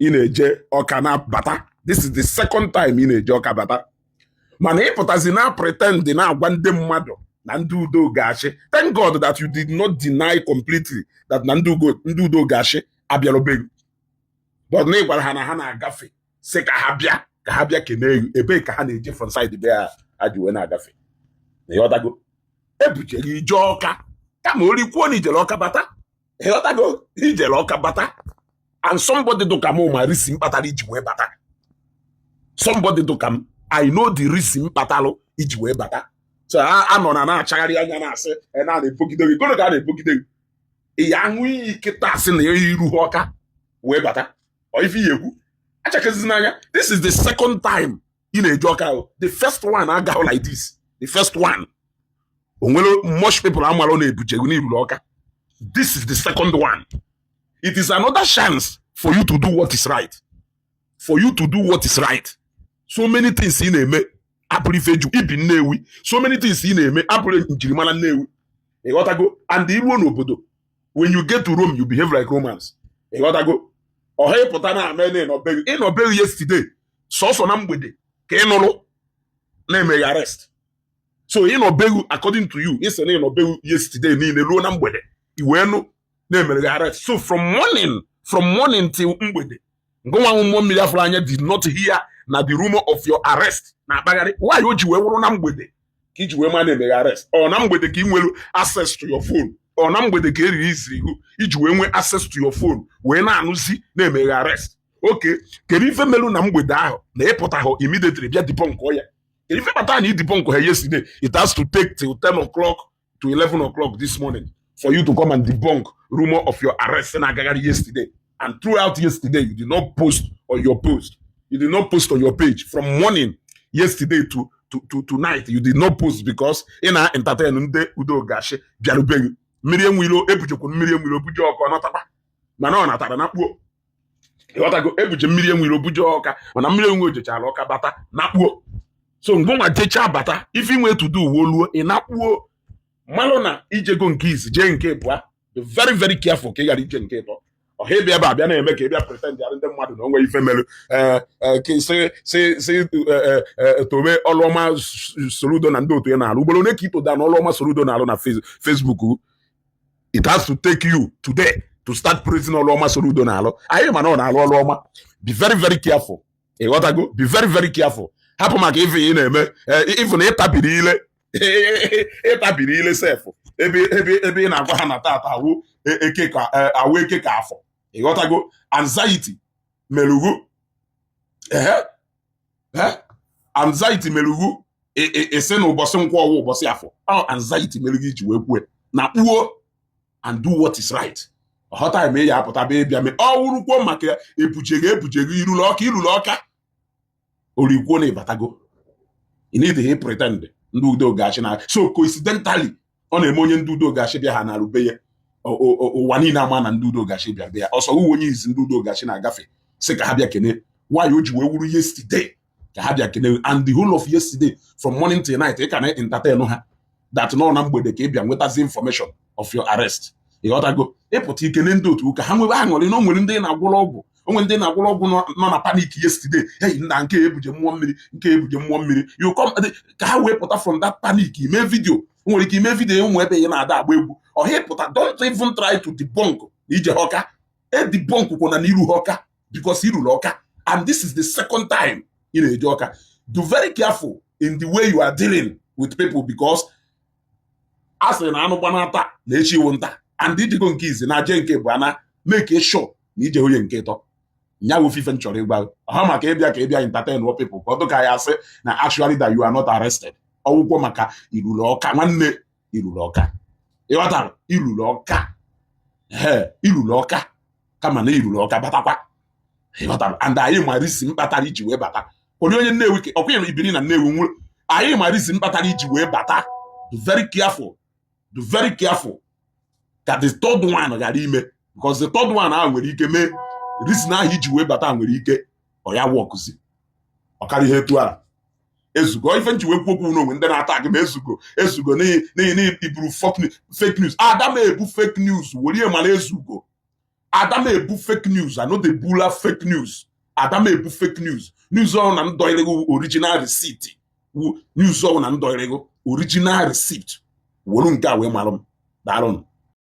ị na-eje ọka na-abata this is the second time ị na-eje ọka bata mana ịpụtazi na pretend na-agwa ndị mmadụ na ndị udo ga-achị thank God that you did not deny completely that na ndị udo ga-achị abịarọ be ghị but na ịgwara ha na ha na-agafe sị ka ha bịa ka ha bịa kene elu ebee ka ha na-eje from side be ha ha ji wee na-agafe na ịghọtago ebujere ije ọka kama orikwuo na ijere ọka bata ịghọtago ijere ọka bata and somebody dụka m ma reason kpatara iji wee bata somebody dụka m i know the reason kpatalụ iji wee bata so i know na ị na-achagharị anya na-asị e na na-ebogide gị gụnụ ka a na-ebogide gị ị ya-aṅụ iyi kịta asị na iruhọ ọka wee bata ọ ife ị ya-ekwu achakazizina anya this is the second time ị na-eje ọka ahụ the first one agahụ like this the first one o nwere much people amarọ na ebuje gị na iruru ọka this is the second one it is another chance for you to do what is right for you to do what is right so many things ị na-eme abụrọ ife eji ebi nnewi so many things ị na-eme abụrọ njirimara nnewi ịghọtago and iruo n'obodo when you get to Rome you behave like Romans ịghọtago ọhọ ịpụta na-eme na ịnọ be ghị ịnọ be ghị yesterday sọsọ na mgbede ka ị nụrụ na emere ghị arrest so ịnọ be ghị according to you ịsị na ịnọ be ghị yesterday niile ruo na mgbede iwee nụ na emere ghị arrest so from morning from morning till mgbede ngụnwa nwa mmụọ mmiri afụrụ anya did not hear na the rumor of your arrest na-akpagharị why o ji wee wụrụ na mgbede ka iji wee ma na emere ghị arrest ọ na mgbede ka ị nwere access to your phone ọ na mgbede ka e releasiri ghị iji wee nwee access to your phone wee na-anụzi na emere ghị arrest okay kedu ife melu na mgbede ahụ na ịpụtahụ immediately bịa debunk ya kedu ife kpatara na ị debunkhụ ya yesterday it has to take till 10 o'clock to 11 o'clock this morning for you to come and debunk rumor of your arrest na-agagharị yesterday and throughout yesterday you did not post on your post you did not post on your page from morning yesterday to night you did not post because ị na entertain ndị udo ga-achị bịarụ be ghị mmiri enwilo ebujekwa mmiri enwilo buje ọka ọ natakwa mana ọ natara nakpuo ịghọtago ebuje mmiri enwilo buje ọka mana mmiri enwilo jechara ọka bata nakpuo so ngụnwa jechaa bata ife inwe to do wee luo ị nakpuo malụ na ijego nke izi jee nke ịbụa be very very careful ka ị ghara ije nke ịtọ ọhọ ịbịa ebe a bịa na-eme ka ị bịa pretend ya ndị mmadụ na onwe ife mere eh, eh, si si si eh, tobe ọlụ ọma soludo na ndị otu ya na-alụ ugboro ole ka itoda na ọlụ ọma soludo na-alụ na Facebook it has to take you today to start praising ọrụ ọma Soludo na-alụ anyị ma na ọ na-alụ ọrụ ọma be very very careful ịghọtago be very very careful hapụ maka ife ị na-eme even ịtabiri ile ịtabiri ile sef ebe ị na-agwa ha na tata awụ eke ka afọ ịghọtago anxiety melu gị ehe anxiety meru gị ị sị na ụbọsị nkwọ wụ ụbọsị afọ ọ anxiety meru gị i ji wee kwue na kpuo and do what is right ọghọta eme ya apụta be ịbịa mee ọ wụrụkwuo maka ebuje gị ebuje gị i ruru Ọka i ruru Ọka orikwuo na ị batago ị na-edeghị pretend ndị Udo Ga-achị na so coincidentally ọ na-eme onye ndị Udo Ga-achị bịa ha na-arube ya ụwa niile ama na ndị Udo Ga-achị bịa bịa ọsọ uwe onye izi ndị Udo Ga-achị na-agafe sị ka ha bịa kene why o ji wee wụrụ yesterday ka ha bịa kene and the whole of yesterday from morning till night ị ka na entertain ha that na ọ na mgbede ka ị bịa nwetazi information of your arrest ịghọtago ị pụta ikene ndị otu ka ha nwebe aṅụrị na o nwere ndị ị na-agwọrọ ọgwụ o nwere ndị ị na-agwọrọ ọgwụ nọ na panic yesterday hey nna nke ebuje mmụọ mmiri nke ebuje mmụọ mmiri you come ka ha wee pụta from that panic ime video nwere ike ime video ụmụ ebe ị na-ada agba egwu ọhịa pụta don't even try to debunk na i jeha Ọka e debunk kwuna na i ruha Ọka because i ruru Ọka and this is the second time ị na-eje Ọka dụ very careful in the way you are dealing with people because a sịrị na anụ gbanaa taa na echi wụ nta and i jego nke izi na je nke ịbụa na make sure na ije onye nke ịtọ nya wụ ife m chọrọ ịgwa ọha maka ị bịa ka ị bịa entertain wọ people ka ọ dịka ya asị na actually that you are not arrested ọ wụkwọ maka i ruru Ọka nwanne i ruru Ọka ịghọtara i ruru Ọka ee i ruru Ọka kama na i ruru Ọka batakwa ịghọtara and anyị ma reason kpatara i ji wee bata onye onye Nnewi ka ọkwa ya ibiri na Nnewi nwụrụ anyị ma reason kpatara i ji wee bata be very careful be very careful ka the third one ghara ime because the third one ahụ nwere ike mee reason ahụ i ji wee bata nwere ike ọ ya wọkụzi ọ karịa ihe etu a ezugo ife m ji wee kwuo okwu n'onwe ndị na-ata gị ma ezugo ezugo n'ihi na i buru fake news ada m ebu fake news were mara ezugo ada m ebu fake news I no dey bula fake news ada m ebu fake news news ọhụrụ na ndọịrịgo original receipt wu news ọhụrụ na ndọịrịgo original receipt were nke a wee mara m daalụ